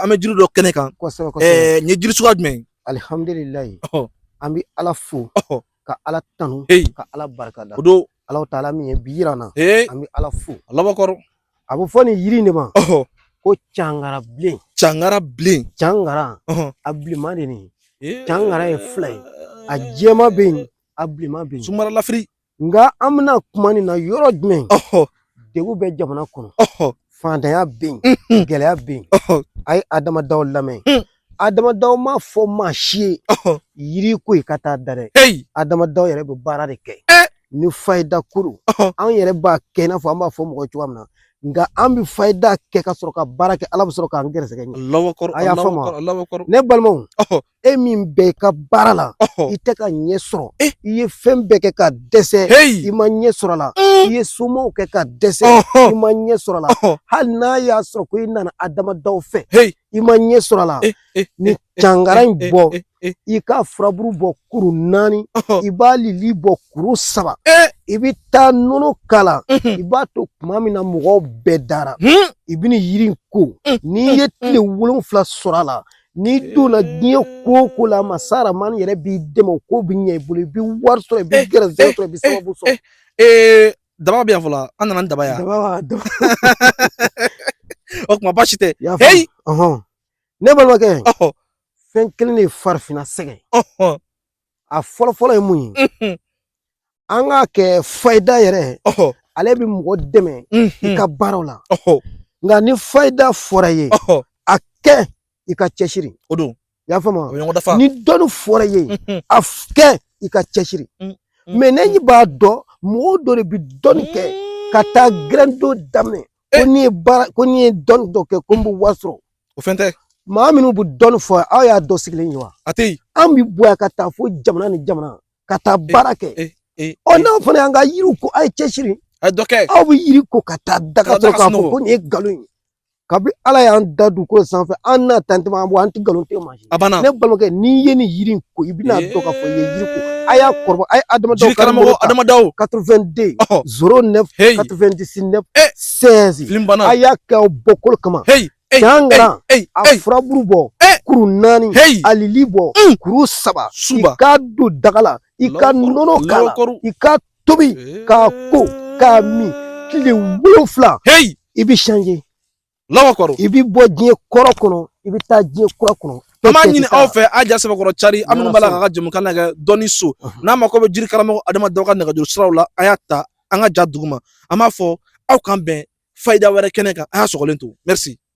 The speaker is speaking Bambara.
an bɛ jiri dɔ kɛnɛ kan kosɛbɛ kosɛbɛ ɛɛ nin ye jiri suguya jumɛn ye alihamudulilayi ɔhɔ an bɛ ala fo ɔhɔ ka ala tanu heyi ka ala barikada o don ala taala min ye bi yira an na ee an bɛ ala fo alahu akibaru a bɛ fɔ nin yiri in de ma ɔhɔ ko cangara bilen cangara bilen cangara ɔhɔ a bilenman de nin ee cangara ye fila ye a jɛma bɛ yen a bilenman bɛ yen sumaralafiri Nka an bɛna kuma nin na yɔrɔ jumɛn degun bɛ jamana kɔnɔ faantanya bɛ yen gɛlɛya bɛ yen a ye adama daw lamɛn adama daw m'a fɔ maa si ye yiri ko i ka taa da dɛ adama daw yɛrɛ bɛ baara de kɛ ni fayida koli anw yɛrɛ b'a kɛ i n'a fɔ an b'a fɔ mɔgɔ cogo min na nka an bɛ fayida kɛ ka sɔrɔ ka baara kɛ ala bɛ sɔrɔ k'an gɛrɛsɛgɛ ɲɛ ne balimaw e min bɛ i ka baara la i tɛ ka ɲɛ sɔrɔ i ye fɛn bɛɛ kɛ ka dɛsɛ i ma ɲɛ sɔrɔ a la i ye somaw kɛ ka dɛsɛ i ma ɲɛ sɔrɔ a la hali n'a y'a sɔrɔ ko i nana adama daw fɛ i ma ɲɛ sɔrɔ a la nin cangara in bɔ i k'a furaburu bɔ kuru naani i b'a lili bɔ kuru saba i bɛ taa nɔnɔ k'a la i b'a to tuma min na mɔgɔw bɛɛ dara i bɛ nin yiri in ko n'i ye tile wolonwula sɔrɔ a la N'i donna diɲɛ ko o ko la masa Rahamani yɛrɛ b'i dɛmɛ o ko bɛ ɲɛ i bolo i bɛ wari sɔrɔ i bɛ gɛrɛsɛgɛ sɔrɔ i bɛ sababu sɔrɔ. Daba bɛ yan fɔlɔ an nana ni daba ye yan. Daba b'a daba. O tuma baasi tɛ. I y'a faamu. Heyi! Ɔhɔn. Ne balimakɛ fɛn kelen de ye farafinna sɛgɛn. a fɔlɔ fɔlɔ ye mun ye an k'a kɛ fayida yɛrɛ ale bɛ mɔgɔ dɛmɛ i ka baaraw la nka ni fayida fɔra i ye a kɛ i ka cɛsiri o don i y'a faamu ni dɔnni fɔra i ye a kɛ i ka cɛsiri mɛ ne b'a dɔn mɔgɔw dɔ de bɛ dɔnni kɛ ka taa gɛrɛndo daminɛ ko n'i ye baara ko n'i ye dɔnni dɔ kɛ ko n bɛ wari sɔrɔ o fɛn tɛ maa minnu bɛ dɔnni fɔ aw y'a dɔ sigilen ye wa a tɛ yen an bɛ bɔ yan ka taa fo jamana ni jamana ka taa baara kɛ ɔ n'aw fana y'an ka yiriw ko a ye cɛsiri a ye dɔ kɛ aw bɛ yiri ko ka taa da ka sɔrɔ k'a fɔ ko nin ye nkalon ye kabi ala y'an da dugukolo sanfɛ an n'a tantɛmɛ an bɔ an tɛ nkalon tigɛ maa A banna ne balimakɛ n'i ye nin yiri in ko i bɛna a dɔn k'a fɔ i ye yiri ko a y'a kɔrɔbɔ a ye Adama Daw jiri karamɔgɔ Adama Daw 82 09 99 16 fili banna a y'a kɛ aw bɔkolo kama cangara a furaburu bɔ kuru naani a lili bɔ kuru saba i k'a don daga la i ka nɔnɔ k'a la i k'a tobi k'a ko k'a min tile wolonwula i bɛ changer alahu akibaru i bɛ bɔ diɲɛ kɔrɔ kɔnɔ i bɛ taa diɲɛ kura kɔnɔ an b'a ɲini aw fɛ a ja sɛbɛkɔrɔ cari aw minnu b'a la k'an ka jɛmukan lajɛ dɔnni so n'aw mako bɛ jiri karamɔgɔ adama daw ka nɛgɛjuru siraw la a y'a ta an ka ja duguma an b'a fɔ aw k'an bɛn fayida wɛrɛ kɛnɛ kan a y'a sɔgɔlen to merci